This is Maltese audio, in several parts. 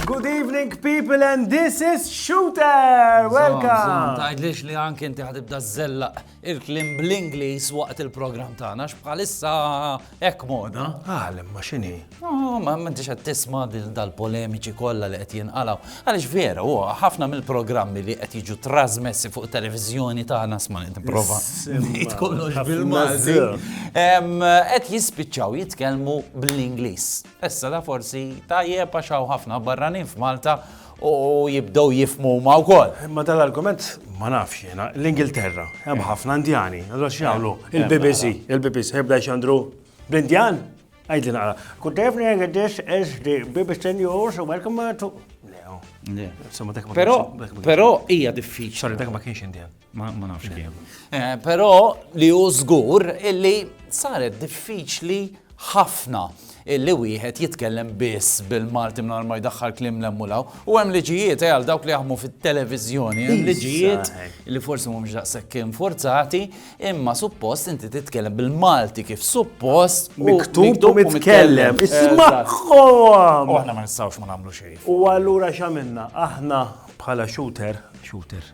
Good evening people and this is Shooter! Welcome! Tajdlix li anki inti ħatibda zellaq il-kliem bl-Ingliż waqt il-programm tagħna x'bħalissa hekk moda. Għal imma x'inhi? Oh, ma m'intix qed tisma' dal-polemiċi kollha li qed jinqalgħu. Għaliex vera huwa ħafna mill-programmi li qed jiġu trasmessi fuq televiżjoni tagħna sma' nipprova. Ngħid kollox bil-Malti. Qed jispiċċaw jitkellmu bl-Ingliż. Issa da forsi tajjeb għax hawn ħafna barranin f'Malta u jibdew jifhmu huma wkoll. Imma dan l-argument ma nafx jiena, l-Ingilterra, hemm ħafna Indjani, allura x'jagħmlu? Il-BBC, il-BBC jibda jxandru bl-Indjan? Għidli naqra. Good evening, this is the BBC News, welcome to... Pero, pero, hija diffiċli. Sorry, dak ma kienx Indian. Ma nafx kien. Eh, però li hu żgur illi saret diffiċli ħafna illi wieħed jitkellem biss bil-Malti minn ma jdaħħal klim l-emmulaw. U hemm liġijiet eh, għal dawk li jaħmu fit-televiżjoni, hemm liġijiet li forsi mhumiex daqshekk infurzati, imma suppost inti titkellem bil-Malti kif suppost miktub u mitkellem. Ismagħhom! U aħna ma nistgħux ma nagħmlu xejn. U allura x'għamilna? Aħna bħala shooter, shooter,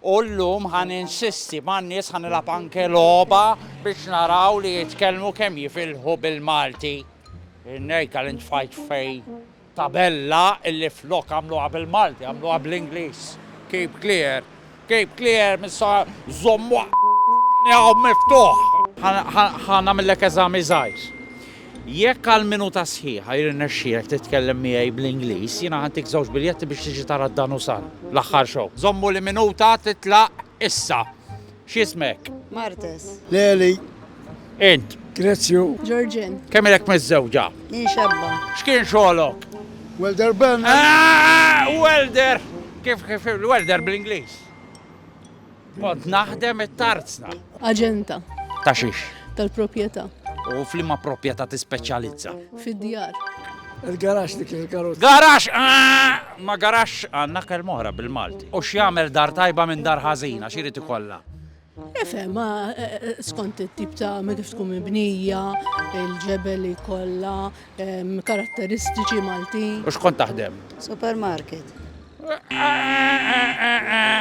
U llum ħa ninsisti man-nies ħa nilgħab anke logħba biex naraw li jitkellmu kemm jifilħu bil-Malti. Nejka li ntfajt fej tabella illi flok għamluha bil-Malti għamluha bl-Ingliż. Keep clear. Keep clear missa żommu hawn miftuħ. Ħa nagħmillek eżami żgħir. Jekk għal minuta sħiħa jirnexxielek titkellem miegħi bl-Ingliż, jiena ħa ntik żewġ biljetti biex tiġi tara d-Danusan, l-aħħar show. Żommu li minuta titlaq issa. X'ismek? Martes. Leli. Int? Grezju. Ġorġin. Kemm ilek miżżewġa? Jien xebba. X'kien xogħlok? Welder Ben. Welder! Kif kif welder bl-Ingliż? Kont naħdem it-tarzna. Aġenta. Ta' xiex? Tal-proprjetà. U flimma proprjetà tispeċjalizza? Fid-djar. Il-garax li kien il-karozza. Garax! Ah! Ma garax għandna kell moħra bil-Malti. U x'jagħmel dar tajba minn dar ħażina, x'irid ikollha? Efe, ma eh, eh, skont it-tip ta' ma kif tkun mibnija, il-ġebel li kollha, ehm, karatteristiċi Malti. U x'kont taħdem? Supermarket.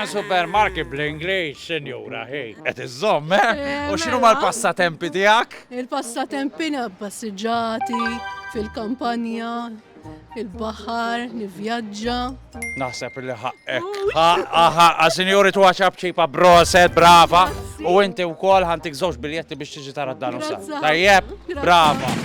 Supermarket bl-Ingliż, sinjura, ħej. Qed iżżomm, eh? eh U x'inhu mela. mal-passatempi tiegħek? Il-passatempi passiġġati fil-kampanja, il-baħar, nivjaġġa. Naħseb li ħaqqek. Ħaqqa, ħaqqa, sinjuri tu għaxab ċipa broset, brava. U inti u kol ħantik zoċ biljetti biex tiġi tara d-danu sa. Tajjeb, brava.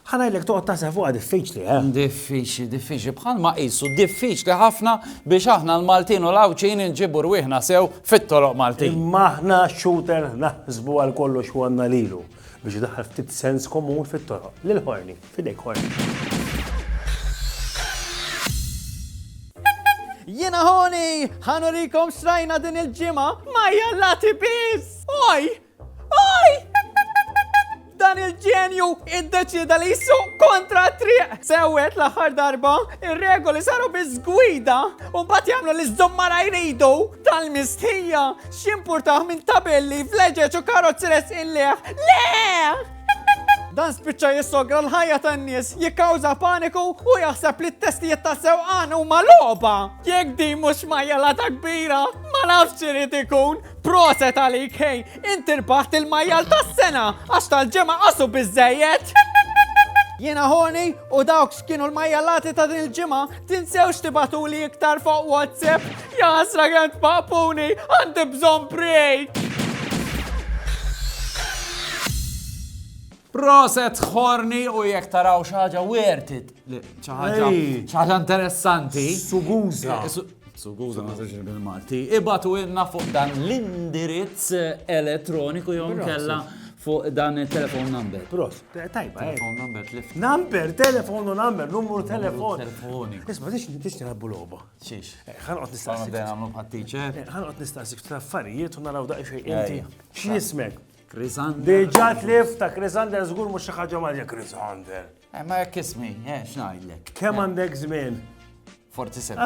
Ħa ngħidlek toqgħod taħseb fuqha diffiċli, eh? Diffiċli, diffiċli, bħalma qisu diffiċli ħafna biex aħna l-Maltin u l-Għawdxin inġibu rwieħna sew fit-toroq Maltin. Imma aħna xuter naħsbu għal kollox u għandna lilu biex daħal ftit sens komun fit-toroq. Lil ħorni, fidejk ħorni. Jena ħoni, ħanurikom xrajna din il-ġimgħa ma jallati biss! Oj, dan il-ġenju id-deċida li jissu kontra triq. Sewet l-aħħar darba, ir-regoli saru biż-gwida u mbagħad jagħmlu li żommara jridu tal-mistħija x'importaħ minn tabelli fleġeġ u karozzi resqilleħ. Le! Dan spiċċa jissogra l-ħajja tan-nies, jikkawża paniku u jaħseb li t-testijiet ta' sewqan huma logħba. Jekk din mhux majjela ta' kbira, ma nafx irid ikun. Proset għalik hej, inti rbaħt il-majjal tas-sena għax tal-ġemgħa qasu biżejjed. Jiena ħoni u dawk x'kienu l-majjalati ta' din il-ġimgħa tinsewx tibatuli iktar fuq WhatsApp. Jasra kemm tpaqpuni għandi bżonn break. Proset ħorni u jekk taraw xaġa wertit. ċaħġa ċaħġa interessanti. Suguza. Eh, Suguza ma sirx bil-Malti. Ibatu ilna fuq dan l-indirizz elettroniku jew kella fuq dan il-telefon number. Prof, tajba, eh. telefon number, telefon. Number, telefon u number, numru telefon. Telefoni. Isma, tix tix nilabbu loba. Xiex. Eh, ħanqot nistaqsik. Għan għamlu bħattiċe. Eh, ħanqot nistaqsik traffarijiet u naraw daqqa xej inti. X'ismek? Krisander. Deġa tlif ta' Krisander zgur mux xaħġa maġja Krisander. Eh, ma jekk ismi, eh, xnajdlek. Kem għandek zmin? 47.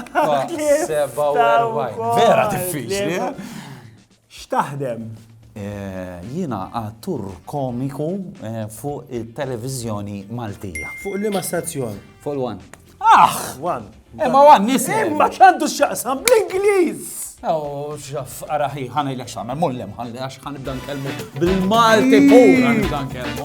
Vera diffiċli. Eh? X'taħdem? Eh, jina għattur komiku fuq il-televizjoni Maltija. Fuq li ma stazzjon? Fuq l-wan. Ah! Wan. Imma wan nisi. Imma ċandu xaqsam bl-Ingliż. Oh, xaf, araħi, ħana il-ex għamel, mullem, ħana il-ex ħana ibdan kelmu bil-Malti fuq, ħana ibdan kelmu.